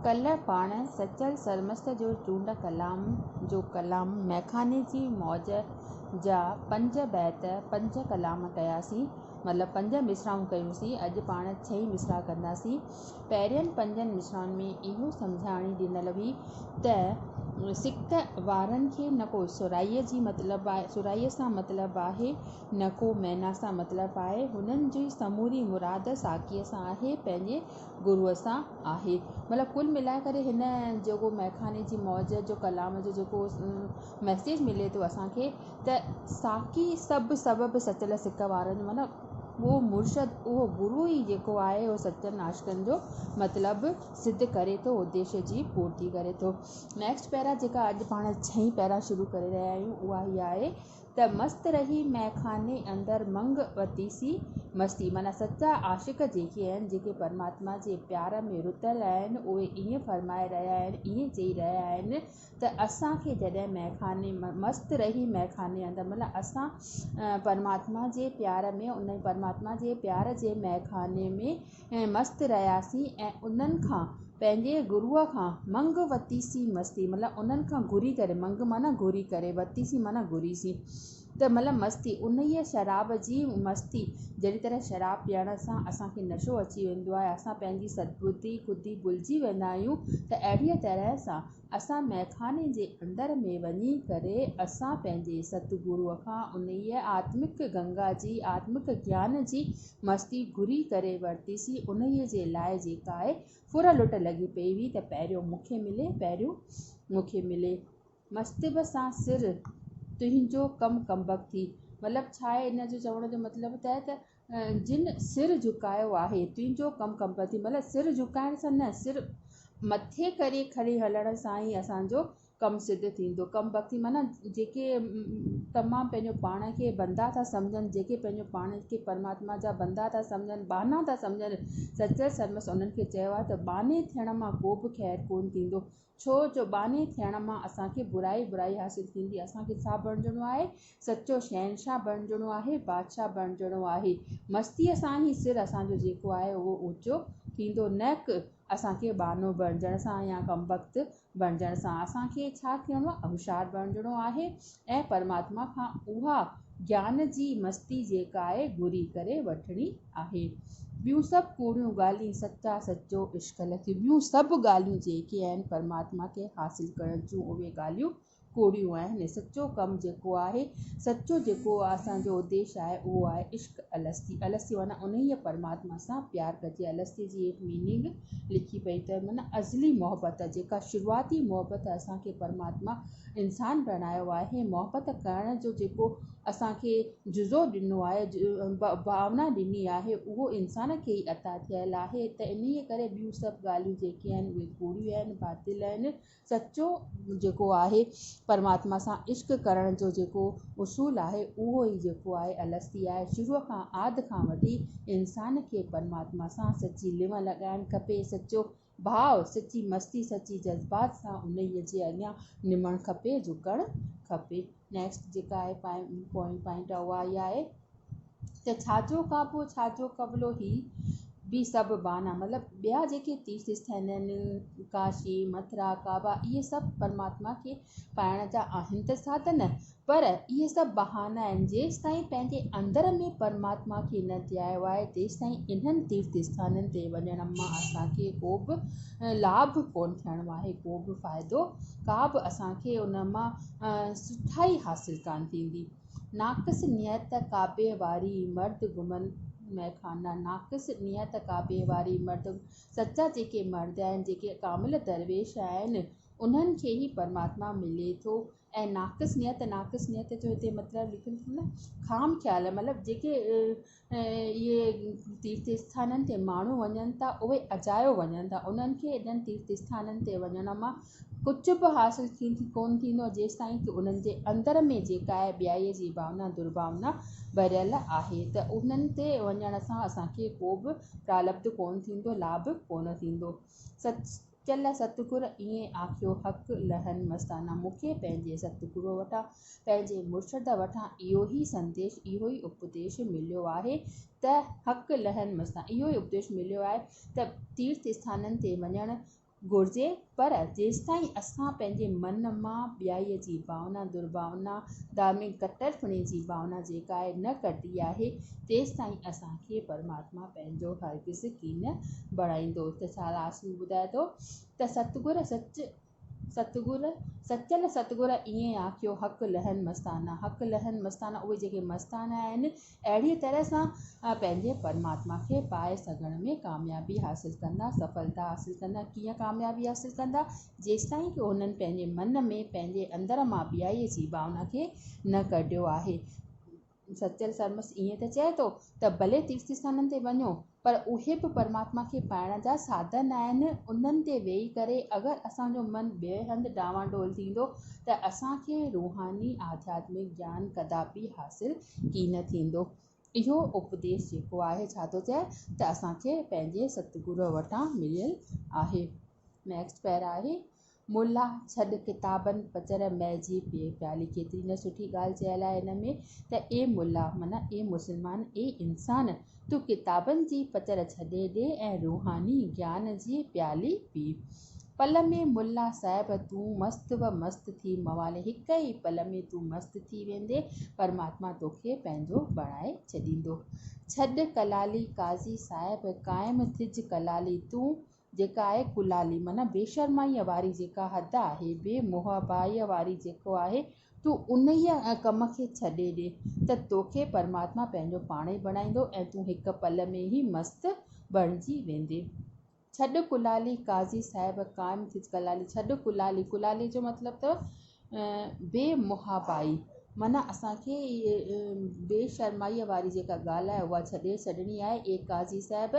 ڪلهه پاڻ سچل سرمست جو چونڊ ڪلام جو ڪلام ميخاني جي موج جا پنج بيت پنج ڪلام ڪياسين مطلب پنج مصراعون ڪيونسين اڄ پاڻ ڇهين مصراع ڪنداسين پهرين پنجن مصراعن ۾ اهو سمجهاڻي ڏنل هئي ته سڪ وارن کي نه ڪو سرهائي سان مطلب آهي نه ڪو معنيٰ سان مطلب آهي. هن جي سموري مراد ساقيء سان آهي، پنهنجي گروء سان آهي. مطلب ڪل ملائي ڪري هن جيڪو مئخاني جي موج جو ڪلام جو جيڪو ميسيج ملي ٿو اسان کي ته ساقي سڀ سبب سچل سڪ وارن جو معنيٰ اهو مرشد اهو گرو ئي جيڪو آهي اهو سچن عاشقن جو مطلب سڌ ڪري ٿو اديش جي پورتي ڪري ٿو. نيڪسٽ پيرا جيڪا اڄ پاڻ ڇهين پيرا شروع ڪري رهيا آهيون اها هي آهي. ته مست رهي مئخاني اندر منگ وتي سي مستي معنيٰ سچا عاشق جيڪي آهن جيڪي پرماتما جي پيار ۾ رڌل آهن اهي ائين فرمائي رهيا آهن ائين چئي رهيا آهن ته اسان کي جڏهن مئخاني مست رهي مئخاني اندر معنيٰ اسان پرماتما جي پيار ۾ ان پرماتما جي پيار جي مئخاني ۾ ۽ مست رهياسين ۽ انهن کان پنهنجي گروء کان منگ وتيسين مستي مطلب انهن کان گهري ڪري منگ معنيٰ گهري ڪري وتيسين معنيٰ گهري سين ته مطلب مستي انهيء شراب جي مستي جهڙي طرح شراب پيئڻ سان اسان کي نشو اچي ويندو آهي اسان پنهنجي سدبدي خودي ڀلجي ويندا آهيون ته اهڙيء طرح سان اسان مئخاني جي اندر ۾ وڃي ڪري اسان پنهنجي ستگروء کان انهيء آتمڪ گنگا جي آتمڪ گيان جي مستي گهري ڪري ورتيسي، انهيء جي لاء جيڪا اي ڦر لٽ لڳي پئي هئي ته پهريون مون کي ملي، پهريون مون کي ملي. مستيب سان سر، تنهنجو ڪم ڪمبخت ٿي. مطلب ڇا آهي ان جو چوڻ جو مطلب ته اهي ته جن سر جهڪايو آهي، تنهنجو ڪم ڪمبخت ٿي. مطلب سر جهڪائڻ سان نه، سر مٿي ڪري کڻي هلڻ سان ئي اسان جو ڪم سڌ ٿيندو. ڪم بختي معنيٰ جيڪي تمام پنهنجو پاڻ کي بندا ٿا سمجهن، جيڪي پنهنجو پاڻ کي پرماتما جا بندا ٿا سمجهن، ٻانها ٿا سمجهن، سچل سرمست انهن کي چيو آهي ته ٻانهي ٿيڻ مان ڪو به خير ڪونه ٿيندو، ڇو جو ٻانهي ٿيڻ مان اسان کي برائي برائي حاصل ٿيندي، اسان کي ڇا بڻجڻو آهي، سچو شهنشاهه بڻجڻو آهي، بادشاهه بڻجڻو آهي، مستيء سان ئي سر اسان جو جيڪو آهي اهو اوچو ٿيندو، نه ڪه. اسان کي ٻانهو بڻجڻ سان يا ڪمبخت بڻجڻ سان اسان کي ڇا ٿيڻو آهي هوشيار بڻجڻو آهي ۽ پرماتما کان اها گيان جي مستي جيڪا آهي گهري ڪري وٺڻي آهي ٻيون سڀ ڪوڙيون ڳالهين سچا سچو عشق لکي ٻيون سڀ ڳالهيون جيڪي آهن پرماتما کي حاصل ڪرڻ جون اهي ڳالهيون ڪوڙيون آهن، سچو ڪم جيڪو آهي، سچو جيڪو اسان جو اديش آهي اهو آهي عشق الستي، الستي معنيٰ انهيء پرماتما سان پيار ڪجي، الستي جي هيٺ ميننگ لکي پئي ته معنيٰ ازلي محبت، جيڪا شروعاتي محبت اسان کي پرماتما انسان بڻايو آهي، محبت ڪرڻ جو جيڪو اسان کي جزو ڏنو آهي، ڀاونا ڏني آهي، اهو انسان کي ئي عطا ٿيل آهي ته انهيء ڪري ٻيون سڀ ڳالهيون جيڪي آهن اهي ڪوڙيون آهن، باطل آهن. سچو جيڪو آهي پرماتما سان عشق ڪرڻ جو جيڪو اصول آهي اهو ئي جيڪو آهي الستي آهي شروع کان آد کان وٺي انسان کي پرماتما سان سچي لنء لڳائڻ کپي سچو ڀاء سچي مستي سچي جذبات سان انهي جي اڳيان نمڻ کپي جهڪڻ کپي نيڪسٽ جيڪا آهي پوائنٽ آهي اها آهي ته ڇاجو ڪعبو ڇاجو قبلو هي به سڀ بهانا مطلب ٻيا جيڪي تيرٿ اسٿان آهن ڪاشي مٿرا ڪعبا اهي سڀ پرماتما کي پائڻ جا آهن ته ساڌن پر اهي سڀ بهانا آهن جيستائين پنهنجي اندر ۾ پرماتما کي نه ڌيايو آهي تيستائين انهن تيرٿ اسٿانن تي وڃڻ مان اسان کي ڪوبه لاڀ ڪونه ٿيڻو آهي ڪوبه فائدو ڪابه اسان کي ان مان سٺائي حاصل ڪانه ٿيندي ناقص نيت ڪعبي واري مرد گهمن مئخانا ناقص نيت ڪعبي واري مرد سچا جيڪي مرد آهن جيڪي ڪامل درويش آهن انهن کي ئي پرماتما ملي ٿو ۽ ناقص نيت ناقص نيت جو هتي مطلب لکيل اٿم نه خام خيال مطلب جيڪي اهي تيرٿ آستانن تي ماڻهو وڃن ٿا اهي اجايو وڃن ٿا انهن کي انهن تيرٿ آستانن تي وڃڻ مان ڪجهه به حاصل ڪونه ٿيندو آهي جيستائين ته انهن جي اندر ۾ جيڪا آهي ٻيائي جي ڀاونا درڀاونا ڀريل آهي ته انهن تي وڃڻ سان اسان کي ڪو به پرالڀ ڪونه ٿيندو لاڀ ڪونه ٿيندو چل ستگور ائين آکيو حق لهن مستانه مون کي پنهنجي ستگرو وٽان پنهنجي مرشد وٽان اهو ئي سنديش اهو ئي اپديش مليو آهي ته حق لهن مستانه اهو ئي اپديش مليو آهي ته تيرٿ اسٿانن تي وڃڻ گهرجي پر جيستائين اسان پنهنجي من مان ٻيائي جي ڀاونا درڀاونا ڌارمڪ ڪٽر پڻي جي ڀاونا جيڪا آهي نه ڪڍي آهي تيستائين اسان کي پرماتما مان پنهنجو هرگز ڪين بڻائيندو ته ساراسيون ٻڌائي ٿو ته ستگر سچ ستگر سچل ستگر ائين آکيو حق لهن مستانا حق لهن مستانا اهي جيڪي مستانا آهن اهڙيء طرح سان پنهنجي پرماتما کي پائي سگهڻ ۾ ڪاميابي حاصل ڪندا سڦلتا حاصل ڪندا ڪيئن ڪاميابي حاصل ڪندا جيستائين ڪي هنن پنهنجي من ۾ پنهنجي اندر مان ٻيائي جي ڀاونا کي نه ڪڍيو آهي سچل سرمست ائين ته چئي ٿو ته ڀلي تيرٿ اسٿانن تي وڃو پر اهي به پرماتما کي پائڻ جا سادن آهن، انهن تي ويهي ڪري اگر اسان جو من ٻئي هنڌ ڊانوا ڊول ٿيندو ته اسان کي روحاني آڌياتمڪ گيان ڪدابي حاصل ڪين ٿيندو. اهو اپديس جيڪو آهي ڇا ٿو چئي ته اسان کي پنهنجي ستگروء وٽان مليل آهي. Next Para آهي موليٰ ڇڏ ڪتابن پڄر مئي جي پيئي پيالي ڪيتري نه سٺي ڳالهه چيل آهي ان ۾ ته اي موليٰ معنيٰ اي مسلمان اي انسان تون ڪتابن جي پڄر ڇڏي ڏي ۽ روحاني گيان جي پيالي پي پل ۾ موليٰ صاحب تون مست و مست ٿي موالي هڪ ئي پل ۾ تون مست ٿي ويندي پرماتما توکي پنهنجو بڻائي ڇڏيندو ڇڏ ڪلالي قاضي صاحب قائم ٿج ڪلالي تون جيڪا آهي ڪلالي معنيٰ بي شرمائيء واري جيڪا حد آهي، بي محابائيء واري جيڪو آهي، تون انهيء ڪم کي ڇڏي ڏي ته توکي پرماتما پنهنجو پاڻهي بڻائيندو ۽ تون هڪ پل ۾ ئي مست بڻجي ويندين. ڇڏ ڪلالي، قاضي صاحب قائم ٿيس ڪلالي، ڇڏ ڪلالي، ڪلالي جو مطلب اٿو بي محابائي معنيٰ اسان کي بي شرمائيء واري جيڪا ڳالهه آهي، اها ڇڏي ڇڏڻي آهي. اي قاضي صاحب!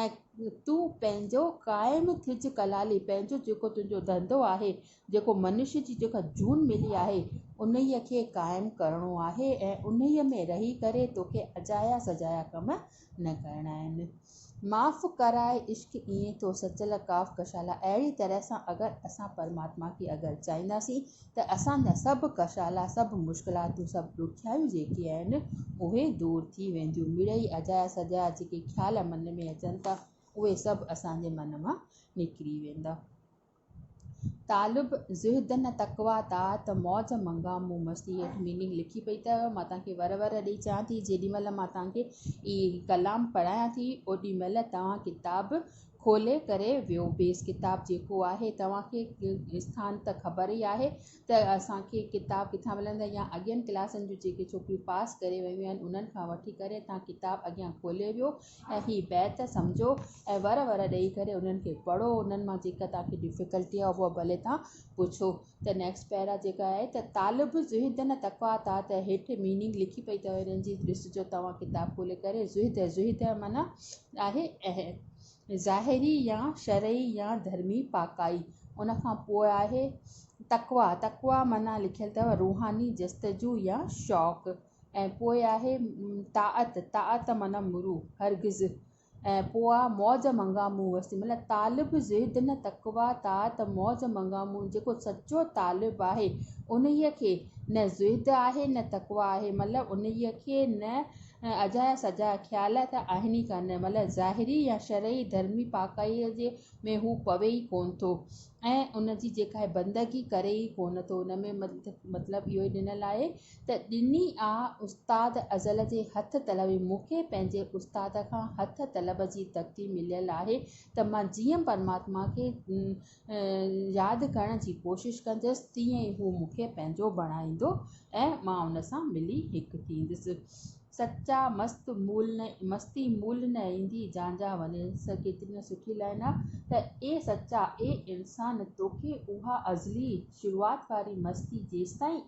۽ تون پنهنجو قائم ٿج ڪلالي، پنهنجو جيڪو تنهنجو ڌنڌو آهي، جيڪو منش جي جيڪا جون ملي آهي، انهيء کي قائم ڪرڻو آهي ۽ انهيء ۾ رهي ڪري توکي اجايا سجايا ڪم نه ڪرڻا آهن. معاف ڪراء عشق ايئن ٿو سچل ڪاف ڪشالا اهڙي طرح سان اگر اسان پرماتما کي اگر چاهينداسين ته اسان جا سڀ ڪشالا، سڀ مشڪلاتون، سڀ ڏکيائيون جيڪي آهن اهي دور ٿي وينديون. مڙئي اجايا سجايا جيڪي خيال من ۾ اچن ٿا اهي سڀ اسان جي من مان نڪري ويندا. طالب زهد نه تقويٰ طاعت موج منگا مون مستي هيٺ ميننگ لکي پئي ته مان توهان کي ور ور ڏئي چوان ٿي جيڏي مهل مان توهان کي هي ڪلام پڙهايان ٿي اوڏي مهل توهان ڪتاب کولي ڪري ويو بيس ڪتاب جيڪو آهي توهان کي اسٿان ته خبر ئي آهي ته اسان کي ڪتاب ڪٿان ملندا يا اڳين ڪلاسن جون جيڪي ڇوڪريون پاس ڪري ويون آهن انهن کان وٺي ڪري تان ڪتاب اڳيان کولي ويو ۽ هي بيت سمجهو ۽ ور ور ڏئي ڪري انهن کي پڙهو انهن مان جيڪا توهان کي ڊفيڪلٽي آهي اهو ڀلي توهان پڇو ته نيڪسٽ پيرا جيڪا آهي ته طالب زهد نه تقويٰ تان ته هيٺ ميننگ لکي پئي اٿو انهن جي ڏسجو توهان ڪتاب کولي ڪري زهد زهد معنيٰ آهي اهل ظاهري يا شرعي يا ڌرمي پاڪائي ان کان پوء آهي تقويٰ تقويٰ معنيٰ لکيل اٿو روحاني جستجو يا شوق ۽ پوء آهي طاعت طاعت معنيٰ مرو هرگز ۽ پوء آء موج منگان مون وسي مطلب طالب زهد نه تقويٰ طاعت موج منگان مون جيڪو سچو طالب آهي انهيء کي نه زهد آهي نه تقويٰ آهي مطلب انهيء کي نه اجها يا سجها خيال ته آهن ئي ڪانه مطلب ظاهري يا شرعي ڌرمي پاڪائيء ۾ هو پوي ئي ڪونه ٿو ۽ ان جي جيڪا هي بندگي ڪري ئي ڪونه ٿو ان ۾ مطلب اهو ئي ڏنل آهي ته ڏني آ استاد ازل جي هٿ طلب مون کي پنهنجي استاد کان هٿ طلب جي تڪتي مليل آهي ته مان جيئن پرماتما کي ياد ڪرڻ جي ڪوشش ڪندس تيئن ئي هو مون کي پنهنجو بڻائيندو ۽ مان ان سان ملي هڪ ٿيندس سچا مست مول نه مستي مول نه ايندي جانجا وڃي سا ڪيتري سٺي لائن آ ته اي سچا اي انسان توکي اها ازلي شروعات واري مستي جيستائين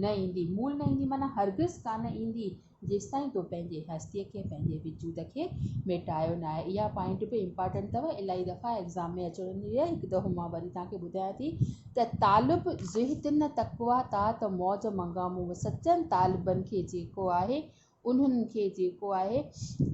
نه ايندي مول نه ايندي معنيٰ هرگز ڪانه ايندي جيستائين تو پنهنجي هستي کي پنهنجي وجود کي ميٽايو ناهي اها پوائنٽ به امپارٽنٽ اٿو الائي دفعا ايگزام ۾ اچڻ واري آهي هڪ دفعو مان وري توهان کي ٻڌايان ٿي ته طالب زهدن تقويٰ طاعت موج منگا مون سچن طالبن کي جيڪو آهي انهن کي جيڪو آهي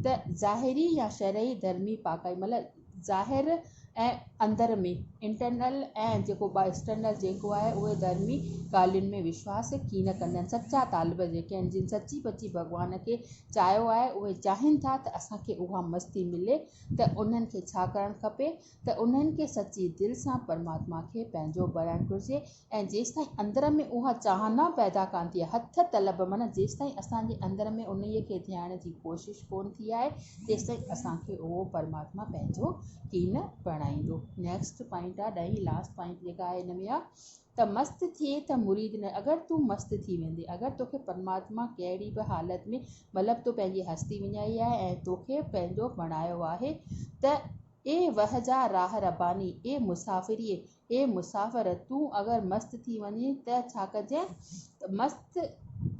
ته ظاهري يا شرعي ڌرمي پاڪائي مطلب ظاهر ۽ اندر ۾ Internal ۽ جيڪو External جيڪو آهي اهي ڌرمي ڳالهين ۾ وشواس ڪين ڪندا آهن سچا طالب جيڪي آهن جن سچي پچي ڀڳوان کي چاهيو آهي اهي چاهين ٿا ته اسان کي اها مستي ملي ته انهن کي ڇا ڪرڻ کپي ته انهن کي سچي دل سان پرماتما کي پنهنجو بڻائڻ گهرجي ۽ جيستائين اندر ۾ اها چاهه نه پيدا ڪانه ٿئي هٿ طلب معنيٰ جيستائين اسان جي اندر ۾ انهيء کي ڌيائڻ جي ڪوشش ڪونه ٿي آهي تيستائين اسان کي اهو پرماتما پنهنجو ڪينه بڻائيندو نيڪسٽ پوائنٽ آهي ڏهين لاسٽ پوائنٽ جيڪا آهي هن ۾ آهي ته مست ٿئي ته مريد نه اگر تون مست ٿي ويندي اگر توکي پرماتما ڪهڙي به حالت ۾ مطلب تو پنهنجي هستي وڃائي آهي ۽ توکي پنهنجو بڻايو آهي ته اي وه جا راهه رباني، اي مسافريء، اي مسافر، تون اگر مست ٿي وڃين ته ڇا ڪجين؟ مست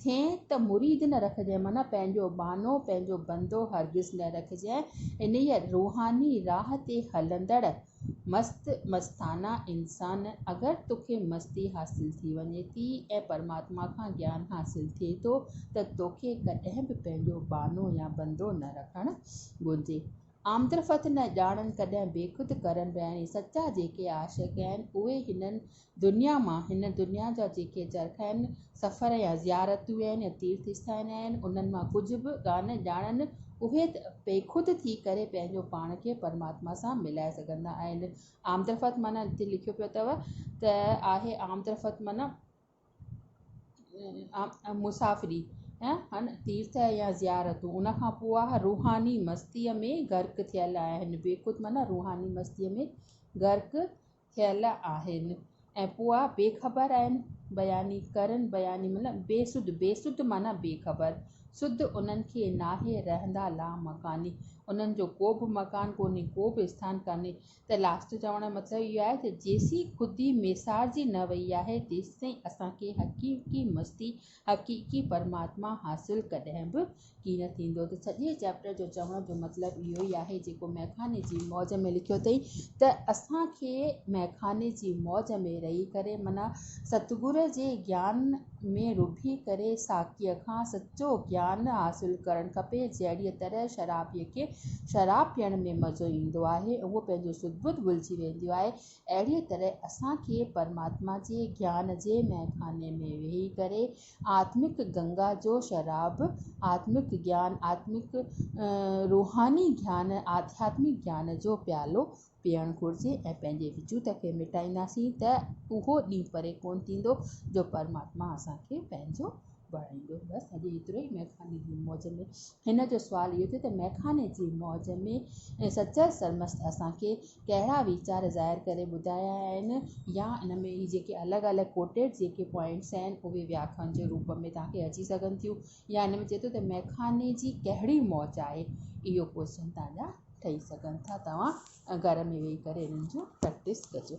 ٿين ته مريد نه رکجين، معنيٰ پنهنجو ٻانهو، پنهنجو بندو هرگز نه رکجين. انهيء روحاني راهه تي هلندڙ مست مستانه انسان، اگر توکي مستي حاصل ٿي وڃي ٿي ۽ پرماتما کان گيان حاصل ٿئي ٿو ته توکي ڪڏهن به پنهنجو ٻانهو يا بندو نه رکڻ گهرجي. آمدرفت نه ڄاڻن ڪڏهن بيخود ڪرن رهڻي سچا جيڪي عاشق آهن اهي هن دنيا مان هن دنيا جا جيڪي چرکائن سفر يا زيارتون آهن يا تيرٿ اسٿان آهن انهن مان ڪجهه به ڪانه ڄاڻن اهي ته بيخود ٿي ڪري پنهنجو پاڻ کي پرماتما سان ملائي سگهندا آهن آمدرفت معنيٰ هتي لکيو پيو اٿو ته آهي آمدرفت معنيٰ مسافري ۽ تيرٿ يا زيارتون ان کان پوء اهي روحاني مستي ۾ غرق ٿيل آهن بيخود معنيٰ روحاني مستي ۾ غرق ٿيل آهن ۽ پوء بي خبر آهن بياني ڪرن بياني معنيٰ بي سڌ بي سڌ معنيٰ بي خبر سڌ انهن کي ناهي رهندا لامڪاني انهن جو ڪو به مڪان ڪونهي ڪو به آستان ڪانهي ته لاسٽ چوڻ جو مطلب اهو آهي ته جيسين خودي ميسارجي نه وئي آهي تيستائين اسان کي حقيقي مستي حقيقي پرماتما حاصل ڪڏهن به ڪين ٿيندو ته سڄي چيپٽر جو چوڻ جو مطلب اهو ئي آهي جيڪو مئخاني جي موج ۾ لکيو اٿئي ته اسان کي مئخاني جي موج ۾ رهي ڪري معنيٰ ستگرو جي گيان ۾ رڀي ڪري ساقيء کان سچو گيان حاصل ڪرڻ کپي، جهڙيء طرح شرابيء کي شراب پيئڻ ۾ مزو ايندو آهي ۽ هو پنهنجون سڌ ٻڌ ڀلجي وينديون آهي، اهڙيء طرح اسان کي پرماتما جي گيان جي مئخاني ۾ ويهي ڪري آتمڪ گنگا جو شراب، آتمڪ گيان، آتمڪ روحاني گيان، آڌياتمڪ گيان جو پيالو پيئڻ گهرجي ۽ پنهنجي وجود کي مٽائينداسين ته اهو ڏينهن پري ڪونه ٿيندو جو پرماتما اسان کي پنهنجو بڻائيندو. بس اڄ ايترو ئي مئخاني جي موج ۾. هن جو سوال اهو ٿيو ته مئخاني جي موج ۾ سچل سرمست اسان کي ڪهڙا ويچار ظاهر ڪري ٻڌايا آهن يا ان ۾ هي جيڪي الڳ الڳ ڪوٽيڊ جيڪي پوائنٽس آهن اهي وياکن جي روپ ۾ توهان کي اچي سگهن ٿيون. يا هن ۾ چئي ٿو ته مئخاني جي ڪهڙي موج آهي اهو ڪوئشن تان جا ٺهي سگهن ٿا توهان گهر ۾ ويهي ڪري انهن جون پريڪٽس ڪجو.